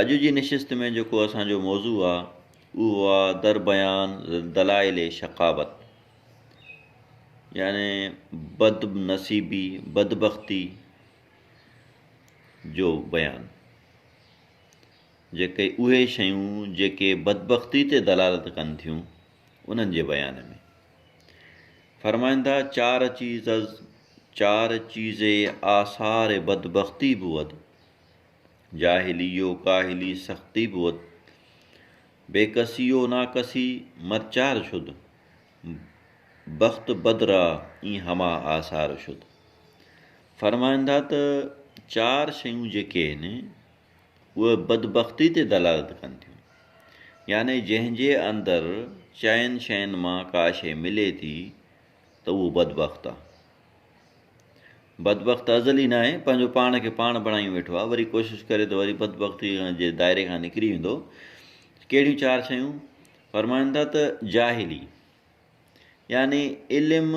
اڄ جي نشست ۾ جيڪو اسان جو موضوع آ اهو آ در بيان دلائل شقاوت يعني بد نصيبي بدبختي جو بيان جيڪي اهي شيون جيڪي بدبختي تي دلالت ڪن ٿيون انهن جي بيان ۾ فرمائن ٿا چار چيز چار چيزي آثار بدبختي بود جاهليء ڪاهلي سختي بود، بي ڪسيء ناڪسي مرچار شد، بخت بد را اين همه آثار شد. فرمائن ٿا ته چار شيون جيڪي هن اهي بدبختي تي دلالت ڪن ٿيون، يعني جنهن جي اندر چئن شين مان ڪا شي ملي ٿي ته اهو بدبخت آ، بدبخت ازل ئي ناهي، پنهنجو پاڻ کي پاڻ بڻائي ويٺو آهي، وري ڪوشش ڪري ته وري بدبختيء جي دائري کان نڪري ويندو. ڪهڙيون چار شيون؟ فرمائن ٿا ته جاهلي يعني علم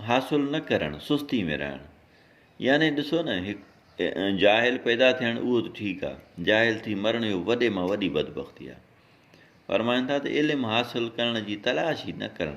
حاصل نه ڪرڻ، سستي ۾ رهڻ. يعني ڏسو نه هڪ جاهل پيدا ٿيڻ اهو ته ٺيڪ آهي، جاهل ٿي مرڻ اهو وڏي مان وڏي بدبختي آهي. فرمائن ٿا ته علم حاصل ڪرڻ جي تلاش ئي نه ڪرڻ.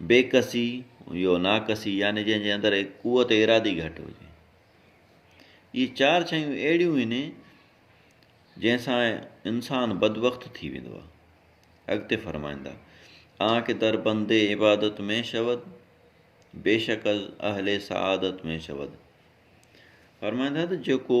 بي ڪسي يو ناڪسي يعني جنهن جي اندر قوت ارادي گهٽ هجي. اهي چار شيون اهڙيون آهن جنهن سان انسان بدبخت ٿي ويندو آهي. اڳتي فرمائندا آنکه در بند عبادت ۾ شود بيشڪ از اهل سعادت ۾ شود فرمائندا ته جيڪو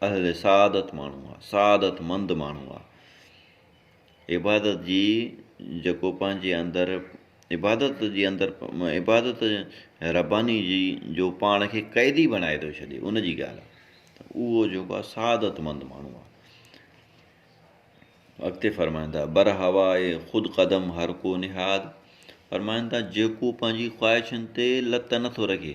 اهل سعادت ماڻهو آ، سعادت مند ماڻهو آ. عبادت جي جيڪو پنهنجي اندر عبادت جي اندر عبادت رباني جي جو پاڻ کي قيدي بڻائي ٿو ڇڏي ان جي ڳالهه آ ته اهو جيڪو آ سعادت مند ماڻهو آ. اڳتي فرمائن ٿا بر هوائي خود قدم هر ڪو نهاد فرمائن ٿا جيڪو پنهنجي خواهشن تي لت نٿو رکي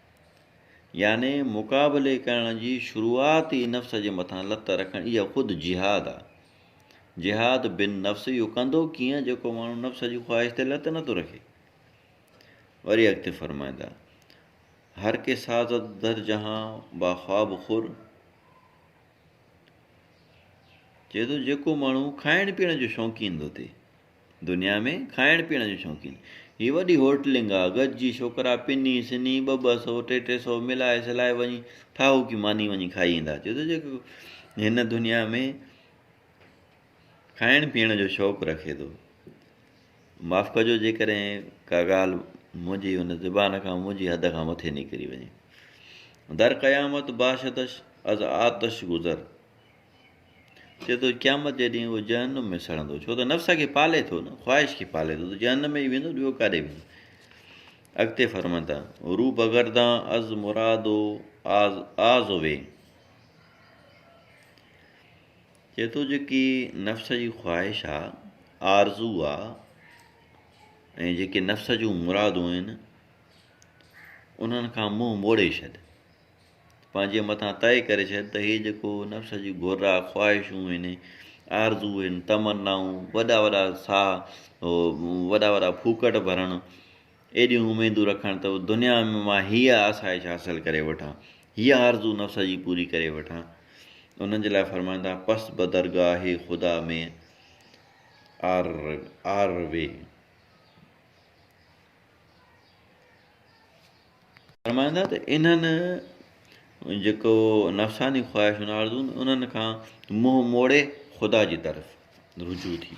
يعني مقابلي ڪرڻ جي شروعات ئي نفس جي مٿان لت رکڻ اها خود جهاد آ. جهاد بن نفس اهو ڪندو ڪيئن جيڪو ماڻهو نفس جي خواهش تي لت نٿو رکي. وري اڳتي فرمائيندا هر ڪي سازد در جهان با خواب خور چئي ٿو جيڪو ماڻهو کائڻ پيئڻ جو شوقين ٿو ٿئي دنيا ۾ کائڻ پيئڻ جون شوقين هي وڏي هوٽلنگ آ گڏجي ڇوڪرا پني سني ٻه ٻه سو ٽي ٽي سو ملائي سلائي وڃي ٺاهوڪي ماني وڃي کائي ايندا چئي ٿو جيڪو هن دنيا ۾ کائڻ پيئڻ جو شوق رکي ٿو معاف ڪجو جيڪڏهن ڪا ڳالهه منهنجي هن زبان کان منهنجي حد کان مٿي نڪري وڃي در قيامت باشتش از آتش گذر چئي ٿو قيامت جي ڏينهن اهو جهنم ۾ سڙندو ڇو ته نفس کي پالي ٿو نه خواهش کي پالي ٿو ته جهنم ۾ ئي ويندو ٻيو ڪاڏي ويندو اڳتي فرمائن ٿا روح بگردان از مرادو آز آز وي چئي ٿو جيڪي نفس جي خواهش آ آرزو آ ۽ جيڪي نفس جون مرادون آهن انهن کان منهن موڙي ڇڏ پنهنجي مٿان طئي ڪري ڇڏ ته هي جيڪو نفس جون گهرا، خواهشون هن، آرزو هن، تمنائون، وڏا وڏا ساهه، وڏا وڏا ڦوڪٽ ڀرڻ، ايڏيون اميدون رکڻ ته دنيا ۾ مان هيء آسائش حاصل ڪري وٺان، هيء آرزو نفس جي پوري ڪري وٺان. انهن جي لاء فرمائن ٿا، پس به درگاهه خدا ۾ آروي. فرمائن ٿا ته انهن، جيڪو نفساني خواهشن ۽ آرزوئن، انهن کان منهن موڙي خدا جي طرف رجوع ٿي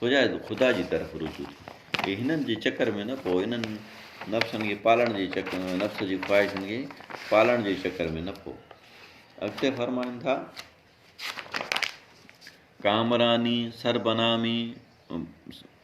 وڃي، خدا جي طرف رجوع ٿي وڃي، هنن جي چڪر ۾ نه پئو، انهن نفسن کي پالڻ جي چڪر ۾، نفس جي خواهشن کي پالڻ جي چڪر ۾ نه پئو. اڳتي فرمائن ٿا. ڪامراني، سربنامي،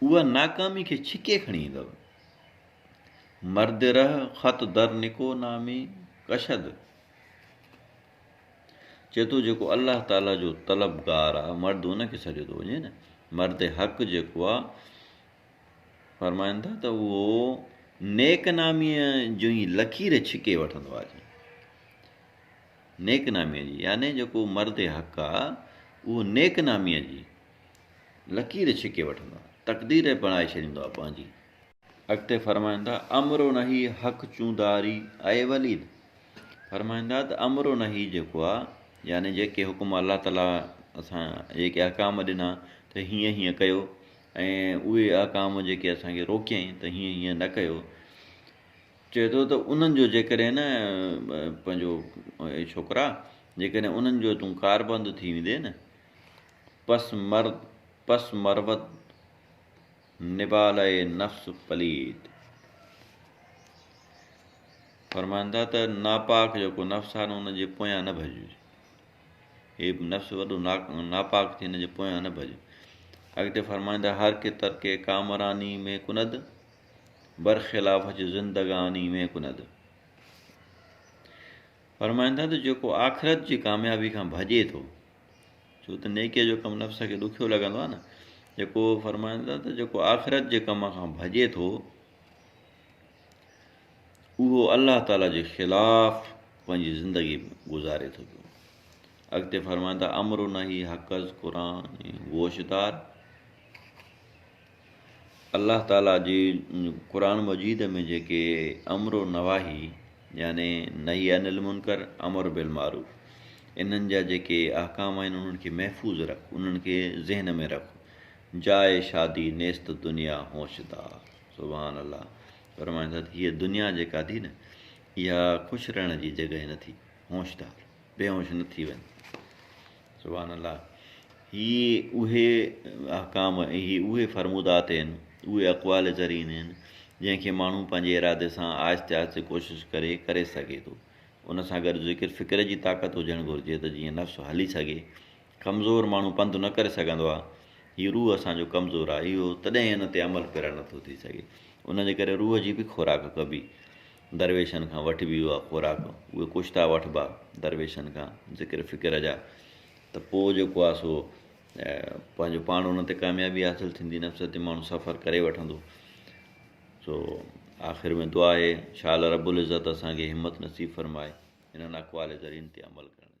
اها ناڪامي کي ڇڪي کڻي ايندؤ. مرد رهه خط در نڪو نامي ڪشد چئي ٿو جيڪو الله تعالي جو طلبگار آ مرد ان کي سڏيو ٿو وڃي نه مرد حق جيڪو آ فرمائن ٿا ته اهو نيڪ نامي جو ئي لڪير ڇڪي وٺندو آ نيڪ نامي جي يعني جيڪو مرد حق آ اهو نيڪ نامي جي لڪير ڇڪي وٺندا. تقدير ئي بڻائي ڇڏيندو آ پنهنجي. اڳتي فرمائيندا، امرو نهي حق چون داري اي وليد! فرمائيندا ته امرو نهي جيڪو آ يعني جيڪي حڪم الله تعاليٰ اسان جيڪي احڪام ڏنا ته هيئن هيئن ڪيو ۽ اهي احڪام جيڪي اسان کي روڪيائين ته هيئن هيئن نه ڪيو چئي ٿو ته انهن جو جيڪڏهن نه پنهنجو اي ڇوڪرا جيڪڏهن انهن جو تون ڪاربند ٿي ويندي نه پس مرد پس مروت نبالئه نفس پليت. فرمائن ٿا ته ناپاڪ جيڪو نفس آهي نه ان جي پويان نه ڀڄجي. هي نفس وڏو ناپاڪ ٿي ان جي پويان نه ڀڄ. اڳتي فرمائن ٿا هر ڪي ترڪ ڪامراني ۾ ڪند برخلاف اچ زندگاني ۾ ڪند. فرمائن ٿا ته جيڪو آخرت جي ڪاميابي کان ڀڄي ٿو ڇو ته نيڪيء جو ڪم نفس کي ڏکيو لڳندو آهي نه جيڪو فرمائن ٿا ته جيڪو آخرت جي ڪم کان ڀڄي ٿو اهو الله تعاليٰ جي خلاف پنهنجي زندگي گذاري ٿو پيو اڳتي فرمائن ٿا امر نه هي حقز قرآن گوشدار الله تعاليٰ جي قرآن مجيد ۾ جيڪي امر و نواهي يعني نهي عن المنڪر امر بالمعروف انهن جا جيڪي احڪام آهن انهن کي محفوظ رک انهن کي ذهن ۾ رک جاء شادي نيست دنيا هوش دار سبحان الله فرمائن ٿا هي دنيا جيڪا ٿي نه اها خوش رهڻ جي جڳهه نه ٿي هوشدار بي هوش نه ٿي وڃ سبحان الله هي اهي احڪام ۽ هي اهي فرمودات هين اهي اقوال زرين هين جنهن کي ماڻهو پنهنجي ارادي سان آهستي آهستي ڪوشش ڪري ڪري سگهي ٿو ان سان گڏ ذڪر فڪر جي طاقت هجڻ گهرجي ته جيئن نفس هلي سگهي ڪمزور ماڻهو پنڌ نه ڪري سگهندو آهي هي روح اسان جو ڪمزور آهي اهو تڏهن ان تي عمل پيرا نٿو ٿي سگهي ان جي ڪري روح جي به خوراڪ ڪبي درويشن کان وٺبي هئا خوراڪ، اهي ڪشتا وٺبا درويشن کان، ذڪر فڪر جا، ته پوء جيڪو آهي سو پنهنجو پاڻ ان تي ڪاميابي حاصل ٿيندي، نفس تي ماڻهو سفر ڪري وٺندو. سو آخر ۾ دعا آهي، شاء الله رب العزت اسان کي همت نصيب فرمائي، انهن اقوال زرين تي عمل ڪرڻ جي.